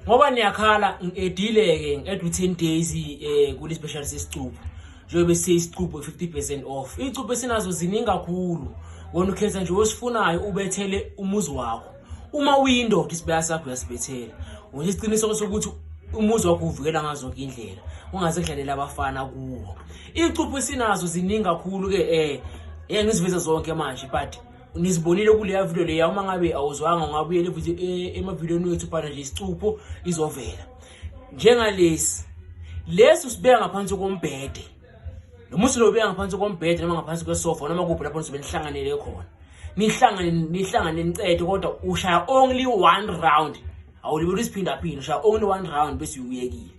ngoba niyakhala ngedile-ke ngi-add u-ten days um kule special sesicupho njengobe siyisicupho i-fifty percent off iy'cupho esinazo ziningi kakhulu wona ukhetha nje osifunayo ubethele umuzi wakho uma uyindoda isibaya sakho uyasibethela ngoba isiqiniseko sokuthi umuzi wakho uvikela ngazo zonke indlela ungaze kudlalela abafana kuwo iy'cupho esinazo ziningi kakhulu-ke um eh, ngiziveze zonke manje but nizibonile kuleya video leya uma ngabe awuzwanga ungabuyela e, emavidiyoni wethu phana nje isicupho izovela njengalesi lesi usibeka ngaphansi kombhede noma usilobeka ngaphansi kombhede noma ngaphansi kwesofa noma kuphi lapho nizobe nihlanganele khona nihlangane nihlangane nicede kodwa ushaya only one round awulibeli isiphindaphinde ushaya only one round bese uyekile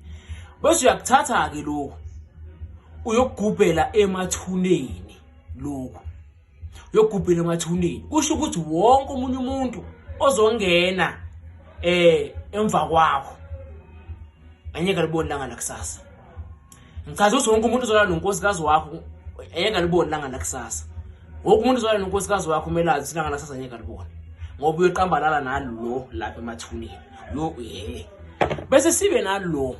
bese uyakuthatha-ke lokhu uyokugubhela emathuneni lokhu uyogubhela emathuneni kusho ukuthi wonke omunye umuntu ozongena eh emva kwakho angeke libone langa lakusasa ngichaza ukuthi wonke umuntu uzolala nonkosikazi wakho angeke libone langa lakusasa wonke umuntu uzolala nonkosikazi wakho umelazi ukuthi langa lakusasa angeke libone ngoba uyoqambalala nalo lapha emathuneni lo eh bese sibe nalo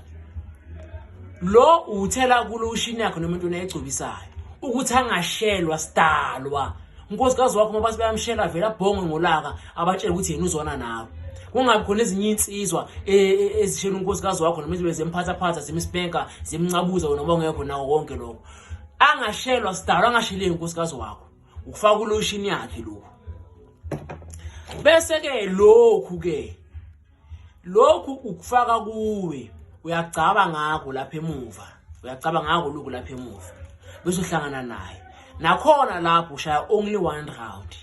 lo uthela kulo ushini yakhe nomuntu unayigcobisayo ukuthi angashelwa sidalwa unkosikazi wakho uma bathi bayamshela vele abhonge ngolaka abatshele ukuthi yena uzwana nawe kungabi khona ezinye insizwa e, e, ezishela unkosikazi wakho noma izibe zemphathaphatha zimspenka zimncabuza wena obongekho nawo konke lokho angashelwa sidalwa angasheleki unkosikazi wakho ukufaka uloshini yakhe lokhu bese ke lokhu ke lokhu ukufaka kuwe uyagcaba ngakho lapha emuva uyagcaba ngakho lokhu lapha emuva bese uhlangana naye nakhona lapho ushaya only one round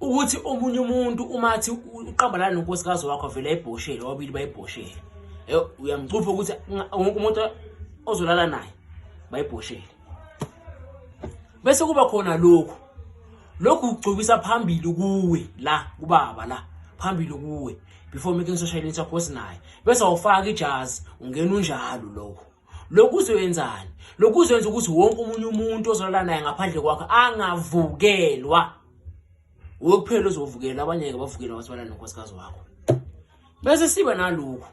ukuthi omunye umuntu uma athi uqambalana nonkosikazi wakho vele ayibhoshele wabili bayibhoshele eh, uyamcupha ukuthi wonke umuntu ozolala naye bayibhoshele bese kuba khona lokhu lokhu kugcobisa phambili kuwe la kubaba la phambili kuwe before making social media post naye bese awufaka ijazi ungena unjalo lokho lokhu uzoyenzani lokhu uzoyenza ukuthi wonke umunye umuntu ozolala naye ngaphandle kwakhe angavukelwa wokuphela ozovukela abanye-ke bavukela wathi balala nonkosikazi wakho bese siba nalokhu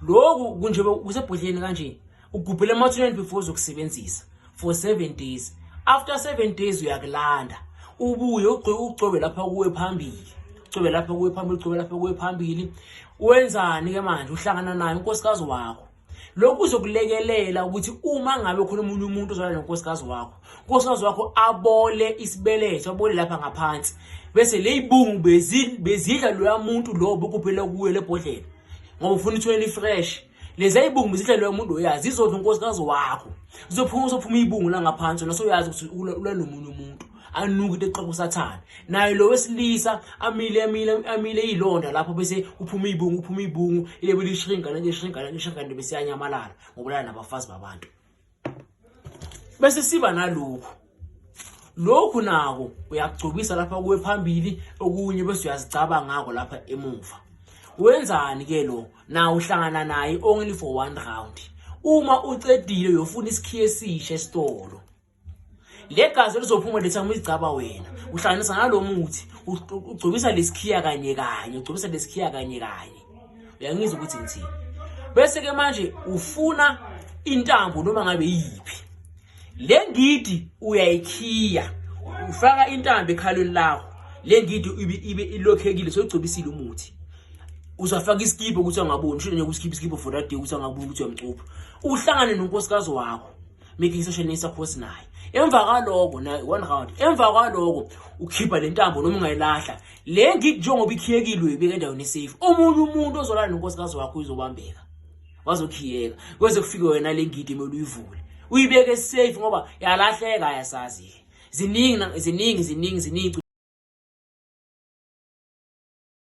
lokhu kunje kusebhodleni kanje ugubhela emathuneni before uzokusebenzisa for 7 days after 7 days uyakulanda ubuye ugcobe lapha kuwe phambili ugcobe lapha kuwe phambili ugcobe lapha kuwe phambili wenzani ke manje uhlangana naye unkosikazi wakho lokhu kuzokulekelela ukuthi uma ngabe khona omunye umuntu ozalwa nonkosikazi wakho unkosikazi wakho abole isibeletho abole lapha ngaphansi bese leyibungu bezidla loya muntu lo bokuphela kuye lebhodlela ngoba ufuna ithole li-fresh lezi ibungu zidla loya muntu oyazi izodla unkosikazi wakho zizophuma uzophuma ibungu la ngaphansi nasoyazi ukuthi ulalomunye umuntu anuke eqoqa usathane naye lo wesilisa amile amile amile ilonda lapho bese uphuma ibungu uphuma ibungu ilebe lishinga nje shinga nje shinga nje bese yanyamalala ngobulala nabafazi babantu bese siba nalokho lokhu nako uyagcobisa lapha kuwe phambili okunye bese uyazicaba ngako lapha emuva wenzani ke lo na uhlangana naye only for one round uma ucedile uyofuna isikhiye esisha esitolo legazi elizophuma letha umizigcaba wena uhlanganisa nalo muthi ugcobisa lesikhiya kanye kanye ugcobisa lesikhiya kanye kanye uyangizwa ukuthi ngithini bese ke manje ufuna intambo noma ngabe yiphi le ngidi uyayikhiya ufaka intambo ekhalweni lakho le ngidi ibe ilokhekile sogcobisile umuthi uzafaka iskipo ukuthi angaboni shona nje kuskipo skipo for that day ukuthi angaboni ukuthi uyamcupha uhlangane nonkosikazi wakho make isashonisa khosi naye emva kwaloko na one round emva kwaloko ukhipha le ntambo noma ungayilahla le ngidi njengoba ikhiyekile uyibeka endaweni esafe omunye umuntu ozolala nonkosikazi wakho uyizobambeka wazokhiyeka kweze kufike wena le ngidi emele uyivule uyibeke esafe ngoba yalahleka ayasazi-ke ziningi ziningi ziningi ziningi